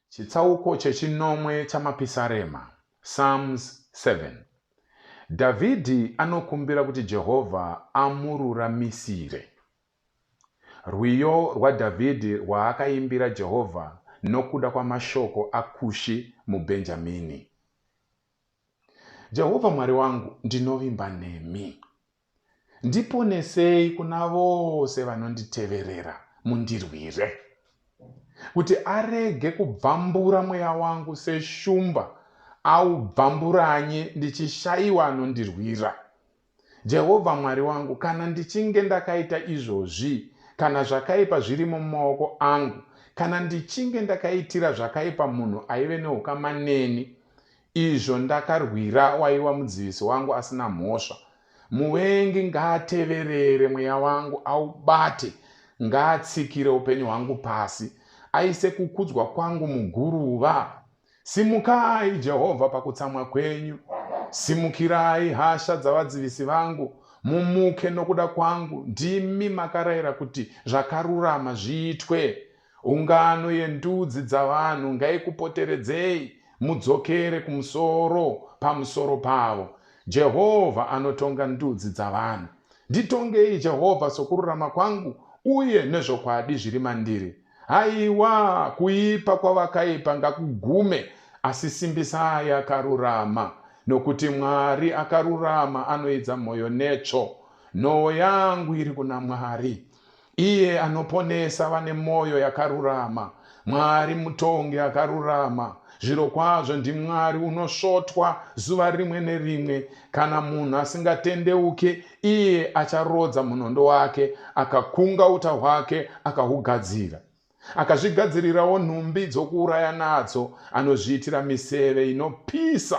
chitsauko chechinomwe chamapisarema psalms 7 dhavhidhi anokumbira kuti jehovha amururamisire rwiyo rwadhavhidhi rwaakaimbira jehovha nokuda kwamashoko akushi mubhenjamini jehovha mwari wangu ndinovimba nemi Ndiponesei kuna vose vanonditeverera, mundirwire, kuti arege kubvambura mweya wangu seshumba aubvamburanye ndichishaiwa anondirwira. Jehovha Mwari wangu, kana ndichinge ndakaita izvozvi, kana zvakaipa zvirimo mumaoko angu, kana ndichinge ndakaitira zvakaipa munhu aive neukama neni, Izvo ndakarwira waiwa mudzivisi wangu asina mhosva. Muvengi ngaateverere mweya wangu aubate ngaatsikire upenyu hwangu pasi aise kukudzwa kwangu muguruva. Simukai Jehovha pakutsamwa kwenyu. Simukirai hasha dzavadzivisi vangu. Mumuke nokuda kwangu. Ndimi makarayira kuti zvakarurama zviitwe. Ungano yendudzi dzavanhu ngaikupoteredzei mudzokere kumusoro pamusoro pavo. Jehovha anotonga ndudzi dzavanhu. Nditongei, Jehovha, sokururama kwangu, uye nezvokwadi zviri mandiri. Haiwa, kuipa kwavakaipa ngakugume, asi simbisai akarurama, nokuti Mwari akarurama anoidza mwoyo netsvo. Nhoo yangu iri kuna Mwari. Iye anoponesa vane mwoyo yakarurama. Mwari mutongi akarurama. Zvirokwazvo ndiMwari unosvotwa zuva rimwe nerimwe. Kana munhu asingatendeuke, iye acharodza munondo wake, akakunga uta hwake akahugadzira. Akazvigadzirirawo nhumbi dzokuuraya nadzo, anozviitira miseve inopisa.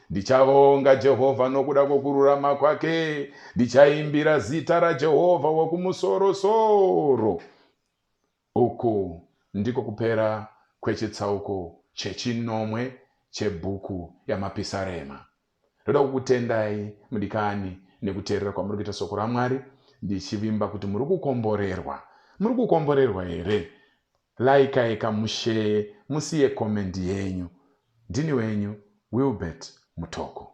Ndichavonga Jehovha nokuda kwokururama kwake, ndichaimbira zita raJehovha wokumusorosoro. Uku ndiko kupera kwechitsauko chechinomwe chebhuku yaMapisarema. Ndoda kukutendai mudikani nekuteerera kwamuri kuita soko raMwari ndichivimba kuti muri kukomborerwa. Muri kukomborerwa here? Like yeka mushare musiye comment yenyu. Ndini wenyu Wilbert Mutoko.